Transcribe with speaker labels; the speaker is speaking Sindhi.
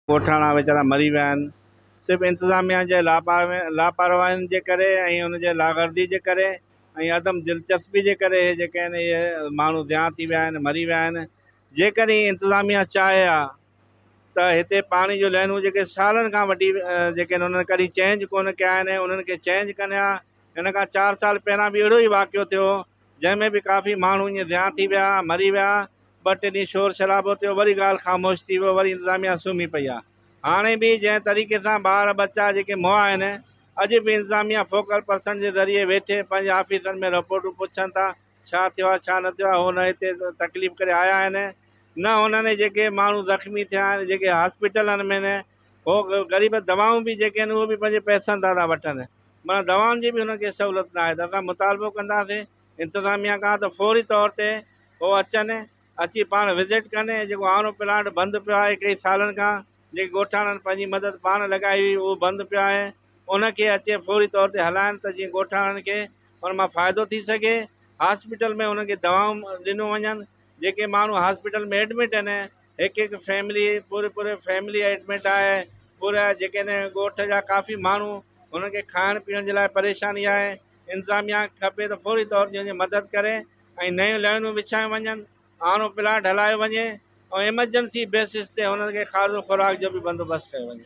Speaker 1: ڳوٺاڻا ويچارا مري ويا آهن صرف انتظاميا جي لاپرواهين جي ڪري ۽ ان جي لاغرضي جي ڪري ۽ عدم دلچسپي جي ڪري اهي جيڪي آهن اهي ماڻهو ضيان ٿي ويا آهن مري ويا آهن جيڪڏهن انتظاميا چاهي ها ته هتي پاڻي جو لائنون جيڪي سالن کان وٺي جيڪي آهن انهن ڪڏهن چينج ڪونه ڪيا آهن انهن کي چينج ڪن ها هن کان چار سال پهريان به اهڙو ئي واقعو ٿيو جنهن ۾ به ڪافي ماڻهو ائين ضيان ٿي ويا، مري ويا، ٻه ٽي ڏينهن شور شرابو ٿيو وري ڳالهه خاموش ٿي ويو وري انتظاميا سمهي پئي آهي هاڻي به جنهن طريقي سان ٻار ٻچا جيڪي مئا آهن اڄ به انتظاميا فوڪل پرسن جي ذريعي ويٺي پنهنجي آفيسن ۾ رپورٽون پڇن ٿا ڇا ٿيو آهي ڇا نه ٿيو آهي هو نه هتي تڪليف ڪري آيا آهن نه هنن جيڪي ماڻهو زخمي ٿيا آهن جيڪي هاسپيٽلن ۾ هو غريب دوائون به جيڪي آهن اهي به پنهنجي پئسن تان ٿا وٺن معنيٰ دوائن جي به هنن کي سهولت ناهي ته اسان مطالبو ڪنداسين انتظاميا کان ته فوري طور تي هو اچن اچي پاڻ وزٽ ڪن ۽ جيڪو هاڻو پلانٽ بند پيو آهي ڪئي سالن کان جيڪي ڳوٺاڻن پنهنجي مدد پاڻ لڳائي هئي اهو بند پيو آهي ان کي اچي فوري طور تي هلائن ته جيئن ڳوٺاڻن کي ان مان فائدو ٿي سگهي هاسپيٽل ۾ هنن کي دوائون ڏنيون وڃن جيڪي ماڻهو هاسپيٽل ۾ ايڊمٽ آهن هڪ هڪ فيملي پوري پوري فيملي ايڊمٽ آهي پورا جيڪي نه ڳوٺ جا ڪافي ماڻهو هنن کي کائڻ پيئڻ جي لاء پريشاني آهي انتظاميا کپي ته فوري طور تي هنجي مدد ڪري ۽ نيون لائينون وڇايون وڃن آڻو پلاٽ هلايو وڃي ۽ ايمرجنسي بيسز تي هنن کي کاڌو خوراڪ جو به بندوبست ڪيو وڃي